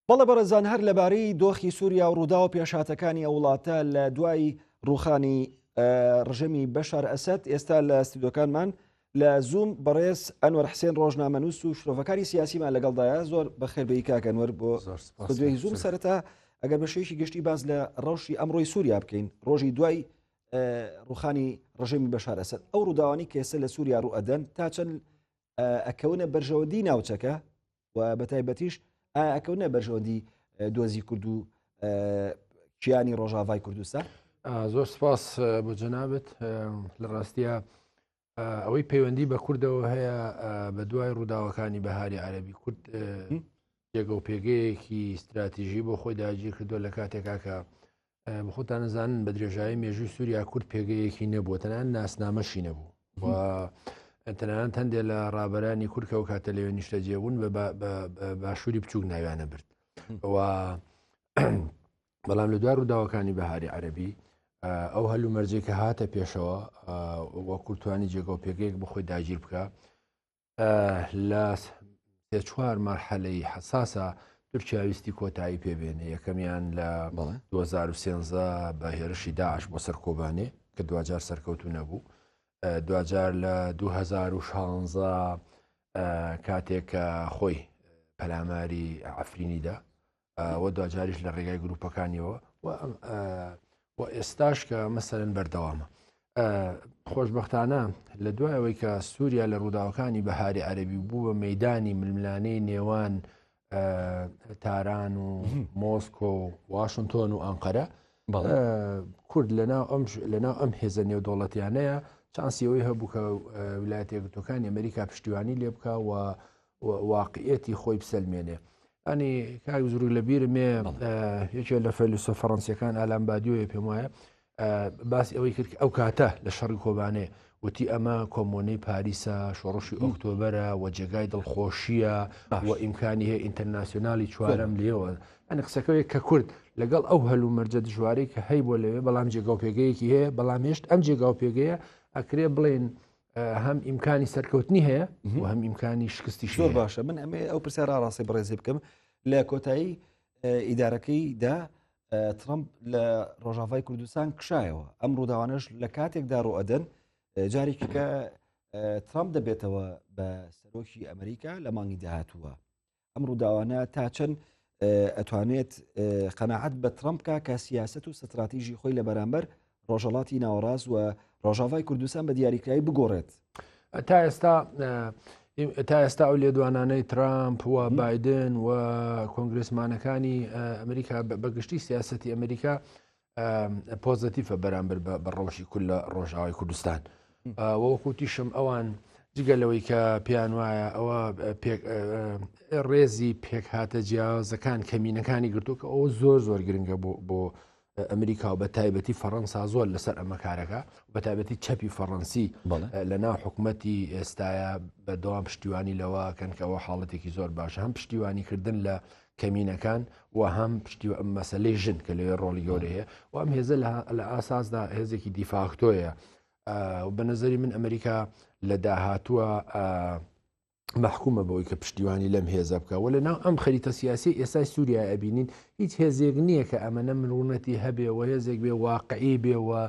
بەڵێ بەڕێزان هەر لەبارەی دۆخی سووریا و ڕوودا و پێشاتەکانی ئەو وڵاتە لە دوای ڕوخانی ڕژەمی بەشار ئەسد ئێستا لە ستیدۆکانمان لە زووم بەڕێز ئەنوەر حسێن ڕۆژنامەنووس و شرۆڤەکاری سیاسیمان لەگەڵدایە زۆر بەخێربەی کاکەنوەر بۆ دوێی زووم سەرەتا ئەگەر بەشێکی گشتی باز لە ڕەوشی ئەمڕۆی سووریا بکەین ڕۆژی دوای ڕوخانی ڕژێمی بەشار ئەسد ئەو ڕووداوانی کێسە لە سووریا ڕوو ئەدەن تا چەند ئەکەونە بەرژەوەدی ناوچەکە و بە تایبەتیش ئاکەونە بەرژەوەندی دۆزی کورد و کیانی ڕۆژاڤای کوردستە زۆر سپاس بۆ جەنابەت لە ڕاستە ئەوەی پەیوەندی بە کوردەوە هەیە بە دوای ڕووداوەکانی بەهاری عەربی کورد جێگە و پێگەیەکی استراتیژی بۆ خۆی داگیر کردو لە کاتێکاکە بخۆتان نزانن بە درێژایی مێژووی سووریا کورد پێگەیەکی نەبووە تەنان ناسنامەشی نەبوو و تەنان هەندێ لە ڕابەرانی کورکە و کاتە لەوێ نیشتە جێبوون بە باشووری بچووک ناویانە برد و بەڵام لە دوای ڕووداوەکانی بەهاری عەربی ئەو هەلو مەرجێکە هاتە پێشەوە وە کورتوانی جێگە و پێگەیەک بخۆی داگیر بکە لە سێ چوار مەرحەلەی حساسە تورکیا ویستی کۆتایی پێبێنێ یەکەمیان لە 2013 بە هێرشی داعش بۆ سەر کۆبانێ کە دوجار سەرکەوتو نەبوو دوجار لە 2016 کاتێک کە خۆی پەلاماری ئەفرینیدا و دواجاریش لە ڕێگای گروپەکانیەوە و ئێستاش کە مەسەرن بەردەوامە خۆشببختانە لە دوای ئەوەی کە سووریا لە ڕووداوەکانی بەهاری عەربی بوو بە مەدانی ململانەی نێوان تاران و مۆسکۆ و واشنتۆن و ئەنقەرە کورد لەناو ئەم لەناو ئەم هێزە نێودوڵەتیانەیە چانسیەوەی هەبوو کە ولایەتە گوتەکانی ئەمریکا پشتیوانی لێ بکە و واقعیەتی خۆی بسەلمێنێ. ئەنی کاک زرو لە بیرمێ یەکێ لە فەلوسە فەڕەنسیەکان ئالان بادیۆیە پێم وایە باسی ئەوەی کرد ئەو کاتە لە شەڕی کۆبانێ وتی ئەمە کۆمۆنەی پاریسە شۆڕشی ئۆکتۆبەرە و جێگای دڵخۆشیە و ئیمکانی هەیە ئینتەرناسیۆنالی چوارم لێوە ئەنی قسەکەوێک کە کورد لەگەڵ ئەو هەلو مەرجە دژوارەی کە هەی بۆ لەوێ بەڵام جێگاو پێگەیەکی هەیە بەڵام هێشت ئەم جێگاو پێگەیە ئەکرێ بڵێن هەم ئیمکانی سەرکەوتنی هەیە و هەم ئیمکانی شکستی شۆر باشە من ئەمێ ئەو پرسە ڕاڕاستی بڕێزی بکەم لە کۆتایی ئیدارەکەی دا ترمپ لە ڕۆژاوای کوردستان کشایەوە ئەم ڕووداوانش لە کاتێکدا ڕۆئەدەن جارێکەکە ترامپ دەبێتەوە بە سەرۆکی ئەمریکا لە مانگی داهاتووە ئەم ڕووداوانە تا چەند ئەتوانێت قەنەعەت بە ترامپکە کە سیاست و ستراتیژی خۆی لە بەرامبەر ڕۆژەڵاتی ناوەڕاست و ڕۆژاوای کوردستان بە دیاریکراوی بگۆڕێت تا ئێستا تا ئێستا ئەو لێدوانانەی ترامپ و بادن و کۆنگرسمانەکانی ئەمریکا بەگشتی سیاستی ئەمریکا پۆزەتیفە بەرامبەر بە ڕەوشی کول لە ڕۆژاوای کوردستان وەکوتیشم ئەوان جگە لەوەی کە پێیان وایە ئەوە ڕێزی پێک هاتە جیازەکان کەمینەکانی گرتو کە ئەو زۆر زۆر گرنگە بۆ بۆ ئەمریکا و بە تایبەتی فەڕەنسا زۆر لەسەر ئەمە کارەکە بە تایبەتی چەپی فەڕەنسی لە ناو حکوومەتتی ئێستاە بەدەوام پشتیوانی لەوە کەنکەوە حاڵەتێکی زۆر باش هەم پشتیوانی کردن لە کەمینەکان و هەم پشتی مەسلەی ژن کە لەوێ ڕۆڵی گەورەیە و ئەم هێزە لە ئاساسدا هێزێکی دیفاکتۆیە بە نظری من ئەمریکا لە داهاتووە مححکومە بەوەی کە پشتیوانی لەم هێزە بکە و لە ناو ئەم خەریتە سیاسی ئێستا سووریا ئەبینین هیچ هێزێک نییە کە ئەمەە مرونەتی هەبێ و هێزێک بێ واقعی بێەوە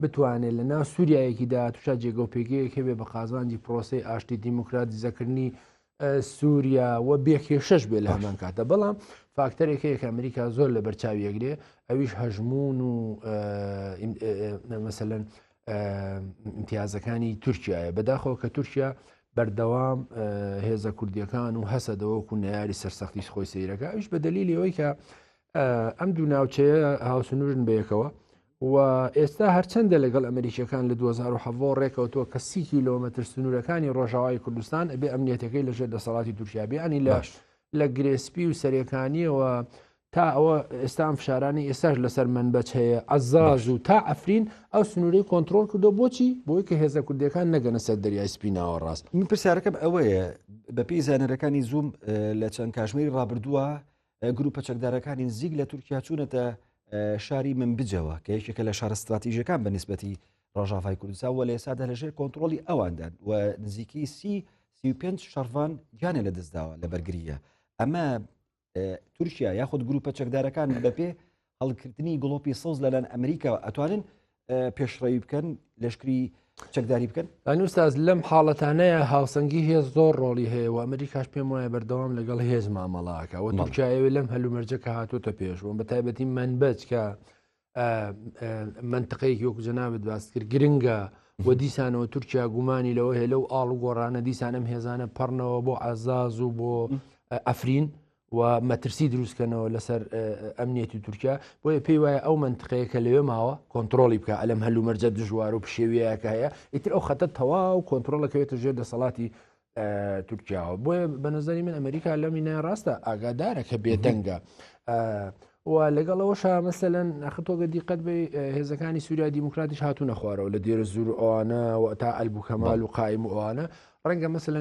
بتوانێت لە ناو سووریایەکی دا توشا جێگە و پێگەیەک هەبێ بە قازانجی پرۆسی ئاشتی دیموکراتی زەکردنی سووریا و بێکێشەش بێ لە هەمان کاتە بەڵام فاکتەرێک هەیە کە ئەمریکا زۆر لە بەرچاویەکرێ ئەویش هەژمون و مەمثلەن امتیازەکانی تورکایە بەداخەوە کە تورکیا بەردەوام هێزە کوردیەکان و هەسە دەوەکو نەیاری سەرسەختیش خۆی سیرەکە ئەوش بە دلیل ئەوەی کە ئەم دوو ناوچەیە هاوسنوورن بەیەکەوە و ئێستا هەرچەندە لەگەڵ ئەمریکیەکان لە 2017 ڕێکەوتووە کە سی کیلۆمەتر سنوورەکانی ڕۆژاوای کوردستان ئەبێ ئەمنیەتەکەی لەژێر دەسەڵاتی تورکیابیانی لە لە گرێسپی و سەرەکانیەوە تا ئەوە ئێستان فشارانی ئێستاش لەسەر منبەچ هەیە ئەزاز و تا ئەفرین ئەو سنووری کۆنتترۆل کردو بۆچی بۆی کە هێزە کوردەکان نەگەنە سەر دەریای سپیناوە ڕاست من پرسیارەکەم ئەوەیە بەپی زانەرەکانی زووم لە چەند کاژمێری ڕابردووە گروپە چەکدارەکانی نزیک لە تورکیا چوونەتە شاری منبجەوە کە یەکێکە لە شارە استراتیژەکان بە نسبەتی ڕژاافای کوردستان وە لە ئێسادا لەژێر کۆنتترۆلی ئەواندان و نزیکی سی سی پێنج شەڕڤان گیانە لە دەستداوە لە بەرگریە ئەمە تورکیا یاخود گروپە چەکدارەکان بەپێ هەڵگرتنی گڵۆپی سەوز لەلایەن ئەمریکاوە ئەتوانن پێشڕەوی بکەن لەشکری چەکداری بکەن ئەنووساز لەم حاڵەتانەیە هاوسەنگی هێز زۆر ڕۆڵی هەیە و ئەمریکاش پێم وایە بەردەوام لەگەڵ هێز مامەڵاکە و تورکایەوە لەم هەلومەرجە کە هاتوتە پێش و بە تایبەتی من بچکە منتقەیەک یۆک جەنابەت باست کرد گرنگە و دیسانەوە تورکیا گومانی لەوە هەیە لەو ئاڵ و گۆڕانە دیسانم هێزانە پەڕنەوە بۆ عزاز و بۆ ئەفرین و مەترسی دروستکەنەوە لەسەر ئەمنیەتی تورکیا بۆیە پێی وایە ئەو منتقەیە کە لەوێ ماوە کۆنتترۆلی بکە ئەلم هەلو مەرجە دژوار و پشێویەکە هەیە ئیتر ئەو خەتە تەواو کۆنتترۆلەکەوێتە ژێر دەسەڵاتی تورکیاوە بۆیە بە نظری من ئەمریکا لەمینە ڕاستە ئاگادارە کە بێدەنگە و لەگەڵ ئەوەشا مەسەلەن ئەخ تۆ گە دیقەت بێ هێزەکانی سووریا دیموکراتیش هاتوونە خوارەوە لە دێرە زور ئەوانە و تا ئەلب و کەمال و قایم و ئەوانە ڕەنگە مەسەن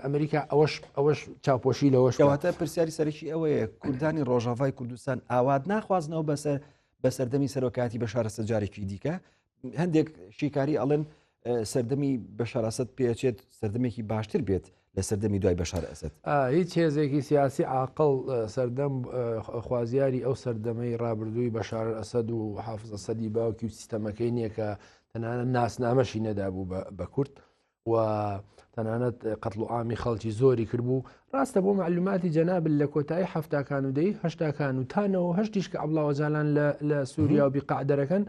ئەمریکا ئەوەش ئەوەش چاپۆشی لەوەش کەواتە پرسیاری سەرەکی ئەوەیە کوردانی ڕۆژاڤای کوردستان ئاوات ناخوازنەوە بەسەر بە سەردەمی سەرۆکاتی بە شارە سەجارێکی دیکە هەندێک شیکاری ئەڵێن سەردەمی بەشارەسەد پێچێت سەردەمێکی باشتر بێت لە سەردەمی دوای بەشار ئەسد هیچ هێزێکی سیاسی عقل سەردەم خوازیاری ئەو سەردەمەی ڕابردووی بەشار ئەسد و حافزە سەدی باوکی و سیستەمەکەی نییە کە تەنانە ناسنامەشی نەدابوو بە کورد و تەنانەت قەتڵ و ئامی خەڵکی زۆری کردبوو ڕاستە بۆ معلوماتی جەنابل لە کۆتایی هەفتاکان و دەی هەشتاکان و تانەوە هەشتیش کە ئەبلاوەجالان لە سووریا و بیقعدەرەکەن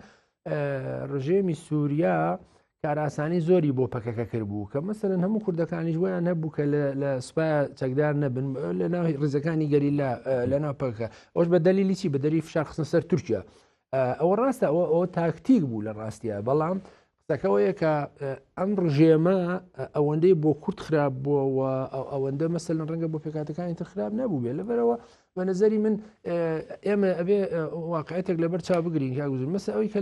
ڕژێمی سووریا کاراسانی زۆری بۆ پەکەکە کرد بوو کە مەسەرن هەموو کوردەکانیش بۆیان هەبوو کە لە سوپای چەکدار نەبن لە ناوی ڕزەکانی گەری لە ناو پەکە ئەوش بە دەلیلی چی بە دەری فشار خستە سەر تورکیا ئەوە ڕاستە ئەوە ئەوە تاکتیک بوو لە ڕاستە بەڵام قسەکەەوەیە کە ئەم ڕژێمە ئەوەندەی بۆ کورت خراپ بووەوە ئەوەندە مەسەل ڕەنگە بۆ پێکاتەکانی تر خراپ نەبوو بێ لەبەرەوە بە نظری من ئێمە ئەبێ واقعەتێک لەبەر چا بگرین کاگوزن مەسە ئەوی کە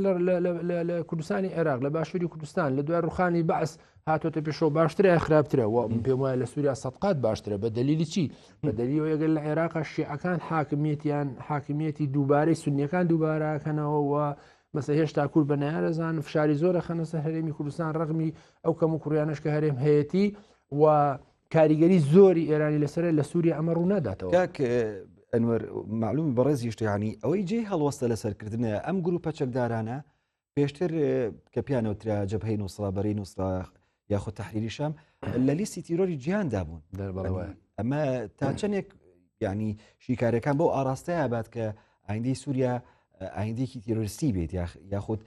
لە کوردستانی عێراق لە باشووری کوردستان لە دوای ڕوخانی بەعس هاتۆتە پێشەوە باشترە خراپترە و من پێم وایە لە سووریا سەقات باشترە بە دلیلی چی بە دەلیەوە ئەگەر لە عێراق شیعەکان حاکمیەتیان حاکمیەتی دووبارەی سنیەکان دووبارەکەنەوە و بەسە هێشتا کورد بە نارەزان فشاری زۆرە خەنە سەر هەرێمی کوردستان ڕغمی ئەو کەم و کوڕیانش کە هەرێم هەیەتی و کاریگەری زۆری ئێرانی لەسەر لە سووری ئەمە ڕوو ناداتەوە ئەنوەر معلوم بەڕێز یشتیانی ئەوەی جێ هەڵوەستە لەسەرکردنە ئەم گروپە چەکدارانە پێشتر کە پیانەوترا جەبهەی نووسرا بەرەی نووسرا یاخود تحریری شام لە لیستی تیرۆری جیاندا بوون ئەمە تا چەندێک ینی شیکارەکان بۆ ئاراستەیە بات کە ئایندی سووریا ئایندێکی تیرۆریستی بێت یاخود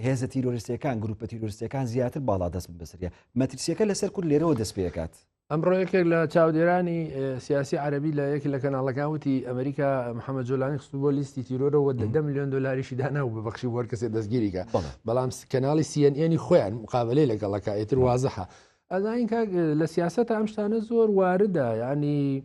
هێزە تیرۆریستەکان گروپە تیرۆریستەکان زیاتر باڵا دەست بەسریە مەترسیەکە لەسەر کورد لێرەوە دەست پێکات ئەمڕۆ یەکێک لە چاودێرانی سیاسی عربی لە یەکی لە کەناڵەکان وتی ئەمریکا محەممە جۆلانی خست بۆ لیستی تیرۆرەوە دە میلیۆن دلاریشی دانا و بەبخشی وەر کەسێ دەستگیریکە بەڵام کەناڵی سیەنێنی خۆیان مقابلەی لەگەڵەکە ئێتر وازەحە ئەزانین کاک لە سیاستە ئەم شتانە زۆر واردە ینی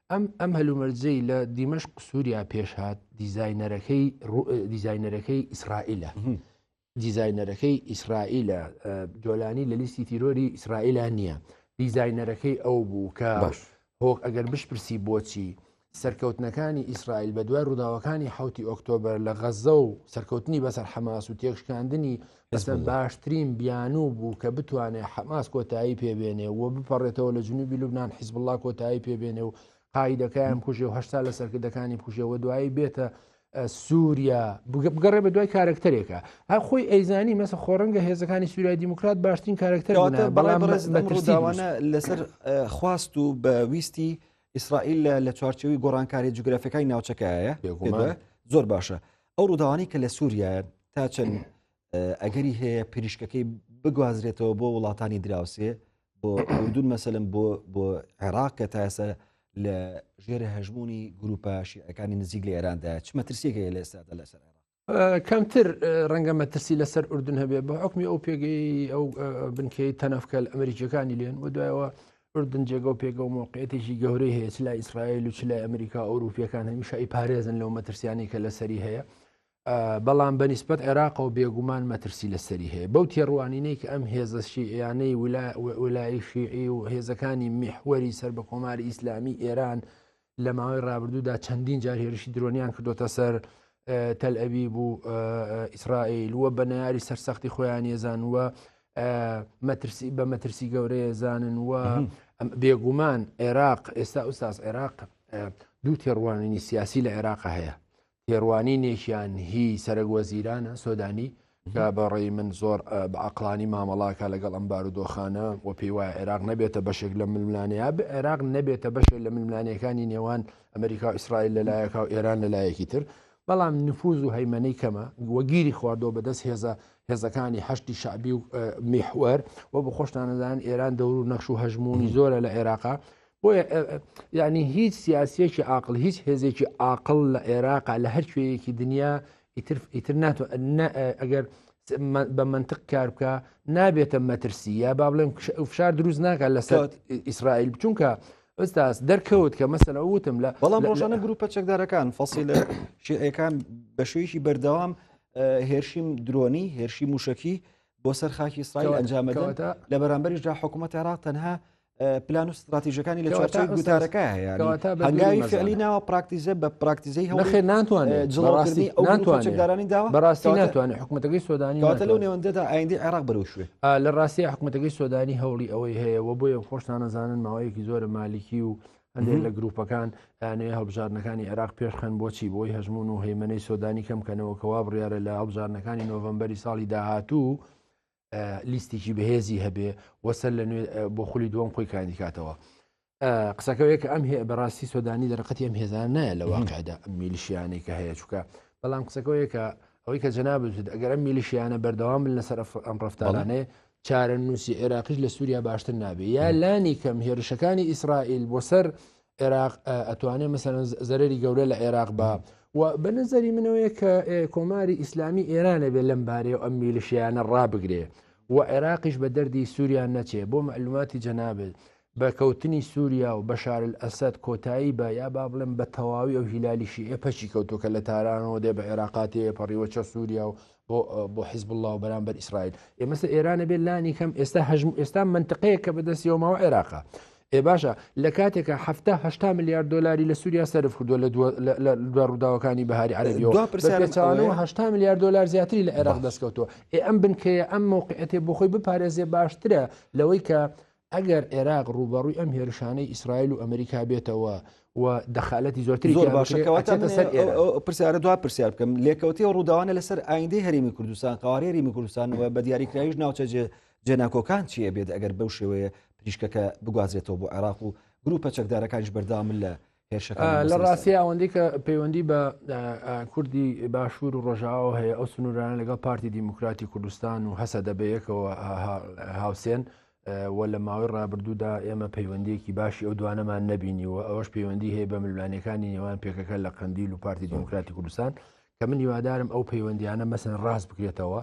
ئەم ئەم هەلومەرجەی لە دیمەش قسووریا پێشهات دیزینەرەکەی دیزینەرەکەی ئیسرائیلە دیزینەرەکەی ئیسرائیلە جۆلانی لە لیستی تیرۆری ئیسرائیلا نییە دیزینەرەکەی ئەو بوو کە باش هۆک ئەگەر بشپرسی بۆچی سەرکەوتنەکانی ئیسرائیل بە دوای ڕووداوەکانی حوتی ئۆکتۆبر لە غەزە و سەرکەوتنی بەسەر حەماس و تێکشکاندنی ئەسەد باشترین بیانوو بوو کە بتوانێت حەماس کۆتایی پێبێنێ و بپەڕێتەوە لە جنوبی لوبناان حیزبله کۆتایی پێبێنێ و قاعدەکەیان کوژێ و هەشتا لە سەرکردەکانی کوژێەوە دوایی بێتە سووریا بگەڕێ بە دوای کارکتەرێکە هە خۆی ئەیزانی مەسە خۆڕنگە هێزەکانی سووریای دیموکرات باشترین کارکتەر بەڵامڕێزداوانە لەسەر خواست و بە ویستی ئیسرائیل لە چوارچەوەی گۆڕانکاری جوگرافەکەی ناوچەکەیە زۆر باشە. ئەو ڕووداوانەی کە لە سووریایە تا چەند ئەگەری هەیە پریشکەکەی بگوازرێتەوە بۆ وڵاتانی دراوسێ بۆ ئەوردون مەسەلم بۆ بۆ عێراق کە تاسە لە ژێر هەژمونی گروپە شیعەکانی نزیک لە ئێراندا چ مەترسیێک هەیە لە ئێستادا لەسەر کەمتر ڕەنگە مەترسی لەسەر ئوردن هەبێت بە حکمی ئەو پێگەی ئەو بنکەی تەنەفکەل ئەمریکیەکانی لێن و دوایەوە ئوردن جێگە و پێگە و مەوقعیەتێکی گەورەی هەیە چ لای ئیسرائیل و چ لای ئەمریکا ئەوروپیەکان هەمیشە ئی پارێزن لەو مەترسیانی کە لەسەری هەیە بەڵام بە نسبەت عێراق و بێگومان مەترسی لەسەری هەیە بەو تێڕوانینەی کە ئەم هێزە شیعیانەی ولای شیعی و هێزەکانی میحوەری سەر بە کۆماری ئیسلامی ئێران لە ماوەی رابرردوودا چەندین جار هێرشی درۆنیان کردوتە سەر تەلئەوی بوو ئیسرائیل وە بە ناری سەرسەختی خۆیان یێزان وە مەترسی بە مەترسی گەورەیە زانن وە بێگومان عێراق ئێستا ئوستاز عێراق دوو تێڕوانینی سیاسی لە عێراق هەیە تێڕوانینێکیان هی سەرەک وەزیرانە سۆدانی کە بەڕێی من زۆر بە عقلانی مامەڵاکە لەگەڵ ئەم بارودۆخانە و پێی وایە عێراق نەبێتە بەشێک لە ململانەیە بە عێراق نەبێتە بەشێک لە ململانەکانی نێوان ئەمریکا و ئیسرائیل لەلایەکە و ئێران لەلایەکی تر بەڵام نفوز و هەیمەنەی کەمە وەگیری خواردەوە بەدەست هێزە هێزەکانی هەشتی شعبی و میحوەر و بە خۆشتانەدان ئێران دەور و نەخش و هەژمونی زۆرە لە عێراقا بۆ یعنی هیچ سیاسیەکی عقل هیچ هێزێکی عقل لە عێراق لە هەر کوێیەکی دنیا ئیتر ئیتر ناتوە ئەگەر بە منطق کار بکە نابێتە مەترسی یا با بڵێم فشار دروست ناکات لەسەر ئیسرائیل بچونکە ئەستاس دەرکەوت کە مەسەر ئەوتم لە بەڵام ڕۆژانە گروپە چەکدارەکان فەسی لە شیعەکان بە شوێکی بەردەوام هێرشیم درۆنی هێرشی موشکی بۆ سەر خاکی ئیسرائیل ئەنجامەدەوەتە لە بەرامبەریشدا حکوومەت عێراق تەنها پلان و ستراتیژەکانی لە چوارچوی گوتارەکە هەیە هەنگاوی فعلی ناوە پراکتیزە بە پراکتیزەی هەڵخێ ناتوانێت جڵڕاستی ناتوانێتدارانی داوە بەڕاستی ناتوانێت حکوومەتەکەی سۆدانی کاتە لەو نێوەندەدا ئایندی عێراق بەرەوشوێ لە ڕاستی حکوومەتەکەی سۆدانی هەوڵی ئەوەی هەیە و بۆیە خۆشتانەزانن ماوەیەکی زۆرە مالیکی و هەندێک لە گروپەکان یانەیە هەڵبژاردنەکانی عێراق پێشخەن بۆچی بۆی هەژمون و هەیمنەی سۆدانی کەم کەنەوە کەوا بڕیاە لە هەڵبژاردنەکانی نۆڤمبەری ساڵی داهاتوو لیستێکی بەهێزی هەبێ وەسەر لە نوێ بۆ خولی دووەم خۆی کاندیکاتەوە قسەکەوەیە کە ئەم بەڕاستی سۆدانی دەرقەتی ئەم هێزان نایە لە واقعدا ئەم میلیشیانەی کە هەیە چووکە بەڵام قسەکەوەیە کە ئەوەی کە جەنابێت ئەگەر ئەم میلیشیانە بەردەوام بن لەسەر ئەم ڕفتانانێ چارە نووسی عێراقیش لە سووریا باشتر نابێ یا لانی کەم هێرشەکانی ئیسرائیل بۆ سەر عێراق ئەتوانێت مەسەن زەرری گەورە لە عێراق بە و بە نظری منەوەیە کە کۆماری ئیسلامی ئێرانە بێ لەم بارەیە و ئەم میلشیانە ڕابگرێ و عێراقیش بە دەردی سووریان نەچێ بۆ معلوماتی جەنابێت بە کەوتنی سووریا و بەشار ئەسد کۆتایی بە یا با بڵێن بە تەواوی ئەو هیلالیشی ئێپەچی کەوتوکە لە تارانەوە دێ بە عێراقاتێ پەڕیوە چە سووریا و بۆ بۆ حیزب الله و بەرامبەر ئیسرائیل ئێمەسە ئێرانە بێت لانی کەم ئێستا هەژم ئێستا منتقەیە کە بەدەستیەوەمەوە عێراقا ئێ باشە لە کاتێکە هەفتا هشتا میلیارد دلاری لە سووریا سرف کردووە لە دو ڕووداوەکانی بەهاری عربیەوەهشتا میلیارد دلار زیاتری لە عێراق دەستکەوتووە ئێ ئەم بنکەیە ئەم مووقعەتێ بۆ خۆی بپارێزێ باشترە لەوەی کە ئەگەر عێراق ڕووبەڕووی ئەم هێرشانەی ئیسرائیل و ئەمریکا بێتەوە و دەخالەتی زۆرتری زۆر باشە کەواتە سەر پرسیارە دو پرسیار بکەم لێکەوتی و ڕووداوانە لەسەر ئایندەی هەرمی کوردستان قوارێ ریمی کوردستانەوە بە دیاریکراویش ناوچە جێناکۆکان چیە بێت ئەگەر بەو شێوەیە پریشکەکە بگوازێتەوە بۆ عێراق و گروپە چەکدارەکانش بەردامن لە لە ڕاستی ئەوەندەی کە پەیوەندی بە کوردی باشوور و ڕۆژاوە هەیە ئەو سنوورانە لەگەڵ پارتی دیموکراتی کوردستان و هەسە دەبەیەکەوە هاوسێن و لە ماوەی ڕابردوودا ئێمە پەیوەندیەکی باشی ئەو دوانەمان نبینی و ئەوەش پەیوەندی هەیە بە ملوانەکانی نێوان پێکەکە لە قندیل و پارتی دیموکراتی کوردستان کە من هیوادارم ئەو پەیوەندیانە مەسن ڕاست بکرێتەوە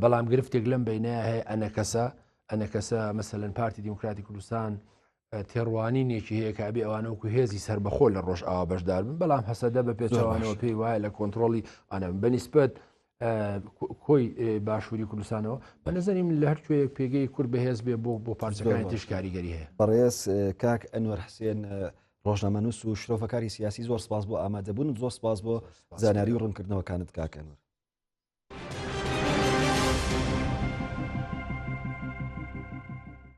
بەڵام گرفتێک لەم بینە هەیە ئەنەکەسە ئەنەکەسە مەسەن پارتی دیموکراتی کوردستان تێڕوانینێکی هەیە کە ئەبێ ئەوانە وەکو هێزی سربەخۆ لە ڕۆژئاوا بەشدار بن بەڵام هەسەدە بە پێچوانەوە پێی وایە لە کۆنتترۆلی ئەە بەنیسبەت کۆی باشووری کوردستانەوە بە نەزانیم لە هەر کوێ پێگەی کورد بەهێز بێ بۆ بۆ پارچەکانی تیش کاریگەری هەیە بەڕێز کاک ئەنوەر حسێن ڕۆژنامەنووس و شرۆفەکاری سیاسی زۆر سپاس بۆ ئامادەبوون زۆر سپاس بۆ زانیاری و ڕوونکردنەوەکانت کاکەنوەر